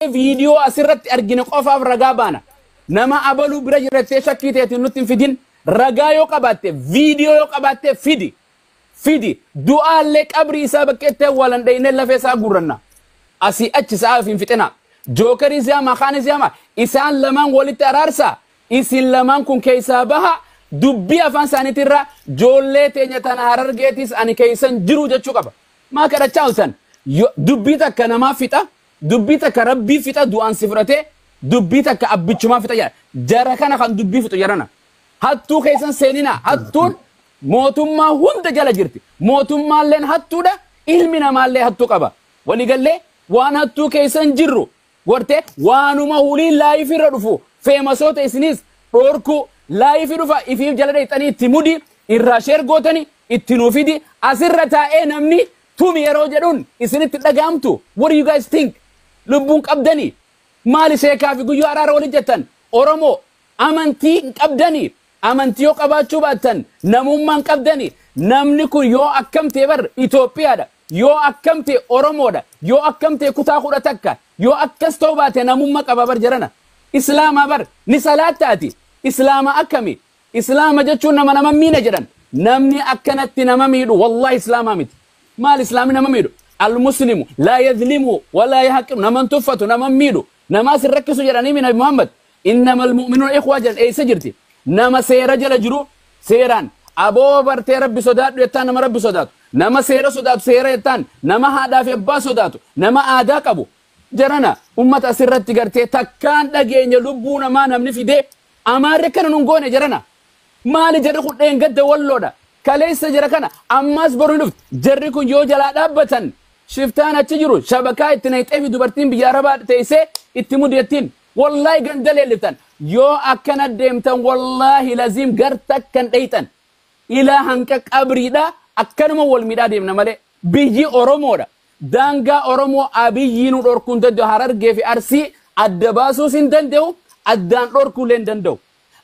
Waa'ee viidiyoo asirratti argine qofaaf ragaa baana. Nama abaluu bira jira jettee shakkii teetiin nutti hin fidin. Ragaa yoo qabaatte, viidiyoo yoo qabaatte fidi. Fidi. Du'aallee qabrii isaa bakkeetti awwaalan dhaynee lafee isaa guurranna. Asii achi sa'aa ofiin fixinaa. Jookarii siyaama, kaanii siyaama. Isaan lamaan walitti araarsa. Isin lamaan kun keessaa baha. Dubbii afaan isaaniitirraa joollee teenya tana harargeetis ani keessan jiru jechuu qaba. Maa kadhachaa oltan? Yo- Dubbii takka namaa fixa. Dubbii takka rabbii fixa du'aan si fudhatee dubbii takka abbichumaa fixa jedha. Jara kana kan dubbii fixu jarana. Hattuu keessan seeninaa. Hattuun mootummaa hunda jala jirti. Mootummaalleen hattuudha. Ilmi namaallee hattuu qaba. Waliigallee waan hattuu keessan jirru gortee waanuma hulii laayifii irra dhufu feemasoota isiniis dhoorkuu laayifii dhufa ifiif jala dheexxanii itti mudi irraa sheer gootani itti nuufidi asirra taa'ee namni Tumi yeroo jedhun isinitti dhaga'amtu what do you guys think? Lubbuun qabdani? Maali sheekaa fi guyyoo araara wali jettan? Oromo Amantii hin qabdani? Amantii yoo qabaachuu baattan namummaa hin qabdani? Namni kun yoo akkam ta'e bar Ethiopia dha. Yoo akkam ta'e Oromo dha. Yoo akkam ta'e kutaa kudha takka. Yoo akkas ta'uu baate namumma qaba bar jarana. Islaama bar ni salaatta ati? Islaama akkami? Islaama jechuun nama nama miina jedhan. Namni akkanatti nama miidhu wallahi islaamaa miti. Maal islaamni nama miidhu? Almuslimu laa yadlimu walaa yahaqiru nama hin tuffatu nama hin miidhu namaa sin rakkisu jedhanii nabi Muhammad innama almu'minuuna ikhwaa jedhan eessa jirti? Nama seera jala jiru seeraan aboo bartee rabbi sodaadhu jettaan nama rabbi sodaatu nama seera sodaatu seera jettaan nama haadhaa fi abbaa sodaatu nama aadaa qabu Jarana ummata asirratti gartee takkaan dhageenye lubbuu namaa namni fidee amaarri akkana nun goone jarana maali jarri kun dheengadda walloodha kaleessa jara kana ammaas boru hin dhuftu jarri kun yoo jalaa dhaabbatan shiftaan achi jiru shabakaa itti nayxee fi dubartiin biyya arabaa teessee itti mudattiin wallaahi ganda leelliftan yoo akkana deemtan wallaahi laziim gar takkan dheeyxan ilaa hanqa qabriidha akkanuma wal midhaa deemna malee Biyyi Oromoodha. Daangaa Oromoo Abiyyi nu dhorkuu hin danda'u. Harargee fi Arsii adda baasuus hin danda'u, addaan dhorkuu illee hin danda'u.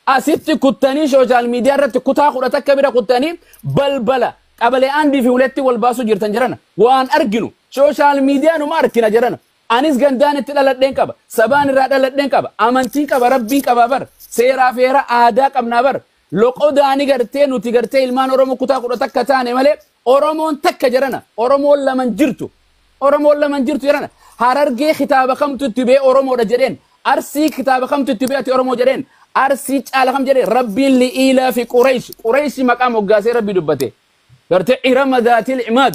Asitti kuttanii social media irratti kutaa kudha takka bira kuttanii balbala qabalee Andii fi Huletti wal baasuu jirtan jarana. Waan arginu social media numa arkina jarana. Anis gandaan itti dhaladheen qaba. Sabaan irraa dhaladheen qaba. Amantiin qaba, Rabbiin qabaa bar. Seeraa fi heera aadaa qabnaa bar. Loqodaani gartee nuti gartee ilmaan Oromoo kutaa kudha takka taane malee Oromoon takka jarana. Oromoon laman jirtu. Oromoon laman jirtu jarana. Harargee kitaaba kamtu itti bee Oromoodha jedheen. Arsii kitaaba kamtu itti bee ati Oromoo jedheen. Arsii caala kam jedheen. Rabbiin li'iilaa fi Qureesh. Qureeshi maqaa moggaasee Rabbi dubbate. Gartee irama daatil imaad.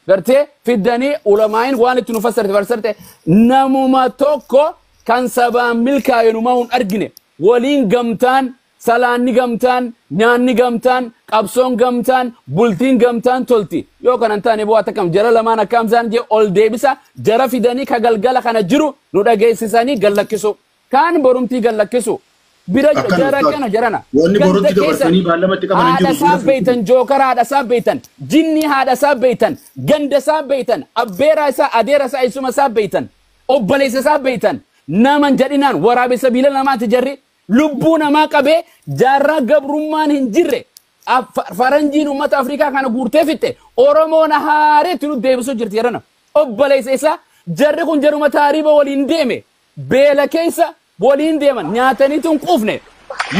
Gartee fiddanii ulamaa'iin waan itti nu fassarte fassarte namuma tokko kan sabaan milkaa'e numaa hin argine. Waliin gamtaan, salaanni gamtaan, nyaanni gamtaan, qabsoon gamtaan, bultiin gamtaan tolti. Yoo kana hin taane boo atakam jara lamaan akkaam zaan jee ol deebisa jara fidanii ka galgala kana jiru nu dhageessisanii gad lakkisuu. Kaan borumtii gad lakkisuu. Bira Akkana jara ustaaz. kana jarana. Wanni Ganda borutti keessan dabarsanii baallama itti qaban hin haadha jiru. isaa Bira beeytan fiigsinu. jookara haadha isaa beeytan jinnii haadha isaa beeytan ganda isaa beeytan abbeeraa isaa adeera isaa eessuma isaa beeytan Obboleessa isaa beektan nama hin jedhinaan waraabessa miila namaati jarri lubbuu namaa qabee jaarraa gabrummaan hin jirre faranjiin uummata Afrikaa kana guurtee fixxe Oromoo na haareetti nu deebisuu jirti jarana. Obboleessa isaa jarri kun jaruma taariiba waliin deeme beela keessa waliin deeman nyaatanii tun quufne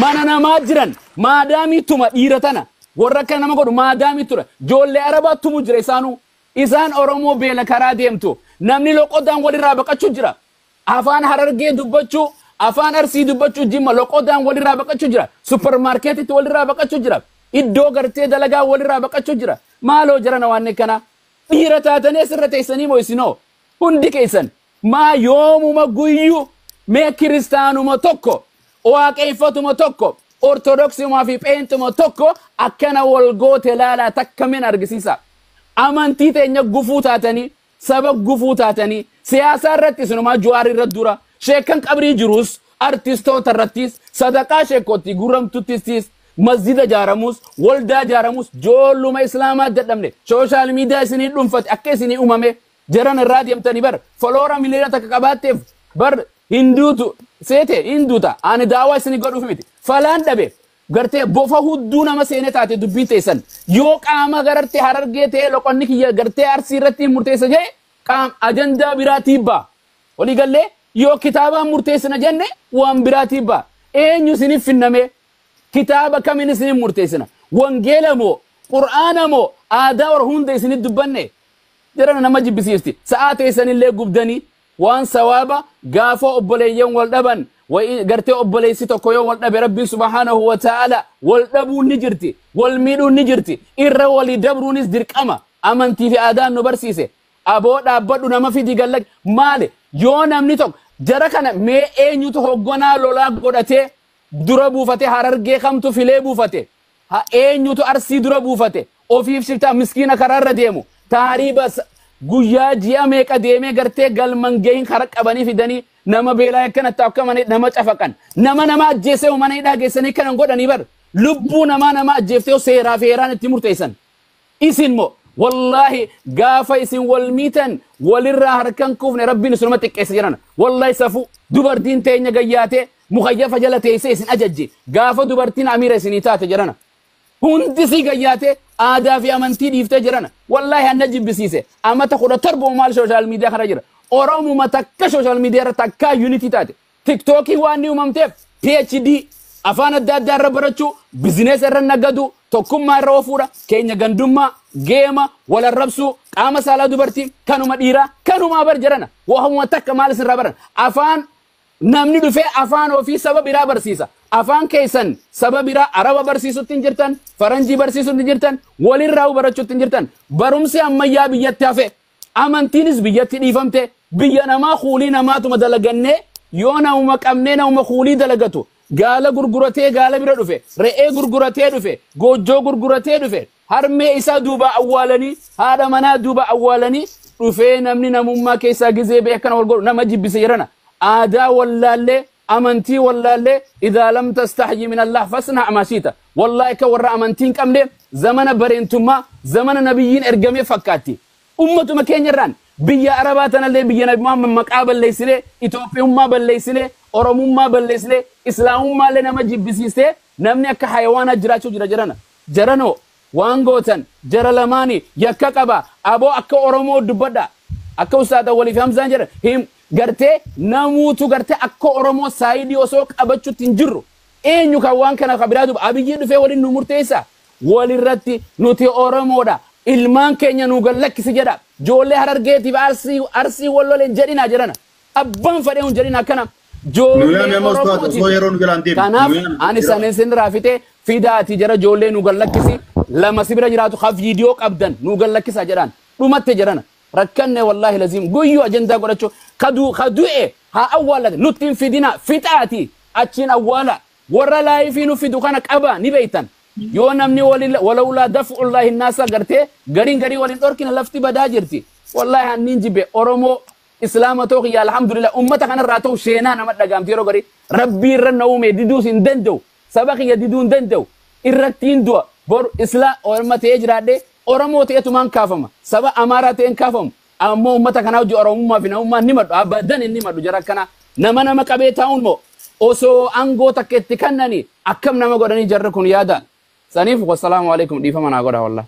mana namaa jiran maadaamii tuma dhiira tana warra akka nama godhu maadaamii tura joollee arabaa tumu jira isaanuu Isaan Oromoo beela karaa deemtu. Namni loqodaan walirraa baqachuu jira. Afaan Harargee dubbachuu, Afaan Arsii dubbachuu Jimma loqodaan walirraa baqachuu jira. Suppermaarkeetitti walirraa baqachuu jira. Iddoo gartee dalagaa walirraa baqachuu jira. Maaloo jarana waan akkanaa. Dhiira taatanii asirra teessanii moo isinoo? Hundi keessan. Maa yoomuma guyyu mee kiristaanuma tokko waaqeeffatuma tokko ortodoksuma fi pheenxuma tokko akkana wal goote laalaa takka min argisiisa amantii teenya gufuu taatanii saba gufuu taatanii siyaasaa irratti isinumaa juwaar irra dura sheekkan qabrii jiruus artistoota irrattis sadaqaa sheekkootti guramtuttis masjida jaaramuus waldaa jaaramuus joolluma islaamaa dadhabne sooshaal miidiyaa isinii dhunfate akka isinii umame Jaran irraa deemtani bar foloora miliyoona takka qabaatteef bar hin duutu seete hin duuta ani daawaa isini godhuuf miti falaan dhabe gartee bofa hudduu nama seene taate dubbiin teessan yoo qaama gararte harargee ta'e loqonni kiyya gartee arsii irratti hin murteessa jee qaam ajandaa biraa tiibbaa walii gallee yoo kitaabaan murteessina jenne waan biraa tiibbaa eenyu isiniif finnamee kitaaba kamin isiniif murteessina wangeela moo qur'aana moo aadaa warra hunda isiniif dubbanne Jarana nama jibbisiifti. Sa'aa teessanillee gubdanii waan sawaaba gaafa obboleeyyan wal dhaban wayi gartee obboleessi tokko yoo wal dhabe Rabbiin subhaanahu wa ta'aala wal dhabuun ni jirti, wal miidhuun ni jirti, irra walii dabruunis dirqama amantii fi aadaan nu barsiise. Aboo dhaabbadhu nama fidi gad lak maali yoo namni tokko jara kana mee eenyutu hogganaa lolaa godhatee dura buufate harargee kamtu filee buufate ha eenyutu arsii dura buufate ofiif shiftaa miskiina karaa irra deemu taariiba sa- guyyaa ji'a meeqa deemee gartee galman gahin kara qabanii fidanii nama beelaa akkana ta'u akka mana nama cafaqan nama nama ajjeesee mana hidhaa geessanii kanan godhanii bar lubbuu namaa nama ajjeeftee seeraa fi heeraan itti murteessan Isin moo wallaahi gaafa isin wal miitan walirraa harkan kuufne rabbiin isinuma xiqqeessa jedhan. Wallaahi safuu dubartiin teenya gayyaatee mukayyafa jala teessee isin ajajje gaafa dubartiin amiira isinii taate jedhana. Hundi sii gayyaatee aadaa fi amantii dhiiftee jedhana. Wallaahi anna jibbisiise amata kudha torba maal sooshaal miidiyaa kana jira. Oromuma takka sooshaal miidiyaa irra takkaa yuunitii taate Tiktookiin waan ni uumamteef PhD afaan adda addaa irra barachuu, bizineesa irra nagaduu, tokkummaa irra ofuudha, keenya gandummaa, geema, wal arrabsuu, qaama saalaa dubartii, kanuma dhiiraa, kanumaa bar jarana. Waamuma takka maal isinirraa baran? Afaan namni dhufee afaan ofii saba biraa barsiisa. Afaan keessan saba biraa Araba barsiisutti hin jirtan, Faranjii barsiisutti hin jirtan, walirraa'uu barachuutti hin jirtan. Barumsi ammayyaa biyyatti hafe Amantiinis biyyatti dhiifamte, biyya namaa kuulii namaatuma dalagannee, yoo namuma qabnee namuma kuulii dalagatu, gaala gurguratee gaala bira dhufe, re'ee gurguratee dhufe, goojjoo gurguratee dhufe, harmee isaa duubaa awwaalanii, haadha manaa duubaa awwaalanii dhufee namni namummaa keessaa gizee ba'e akkana wal godhu nama jibbisa jedhana. Aadaa wallaallee Amantii wallaallee idhaa lam tastahyi min Allah fasna ma shiita. Wallahi akka warra amantii hin qabne zamana bareentummaa zamana nabiyyiin ergamee fakkaatti. Ummatuma keenya irraan biyya arabaa tanallee biyya nabi Muhammad maqaa balleessine Itoophiyummaa balleessine Oromummaa balleessine Islaamummaa illee nama jibbisiistee namni akka hayawaanaa jiraachuu jira jarana. Jaranoo Waan gootan jara lamaani yakka qaba abo akka oromoo dubbadha akka ustaaz awwal fi hamzaan jedhan hin gartee namuutu gartee akka oromoo saayidii osoo qabachutti hin jirru eenyu kan waan kana ka biraa dubba abiyyii dhufee waliin nu murteessa walirratti nuti oromoodha ilmaan keenya nu gad lakkisi jedha joollee harargeetiif arsii arsii wal loleen jedhina jedhana Abbaan fadhee hun jedhin akkana Nu yaami joollee amma ustaaza osoo Oromootiif. yeroo nu jala hin deemne. Nu Kanaaf yaami ani jira. sanin sinirraa fixee fidaati jara joollee nu gallakkisi lama si bira jiraatu ka viidiyoo qabdan nu gallakkisa jedhaan dhumatte jedhana rakkanne wallaahi laziim guyyuu ajandaa godhachuu kadu kadu'e haa awwaallate nutti hin fidina fixaati achiin awwaala warra laayifii nu fidu kana qaba ni beeytan yoo namni walila- walaulaa daf'ullaahi naasa gartee gariin garii waliin dhorkina lafti badaa jirti wallaahi hanniin jibbe oromoo Islaama too kiyya alhamdulillah ummata kanarraa tahu seenaa nama dhagaamti yeroo garii rabbii irra na uumee diduus hin danda'u saba kiyya diduu hin danda'u irrattiin du'a bor isla orma ta'ee jiraadhee oromoo ta'etumaan kaafama saba amaaraa ta'een kaafamu ammoo ummata kanaa hojii oromummaa fi namummaa ni madhu abadan hin ni madhu jara akkanaa nama nama qabee taa'uun moo osoo angoo takka itti kannani akkam nama godhanii jarri kun yaada saniif wassalaamu alaikum dhiifama naa godha wallahi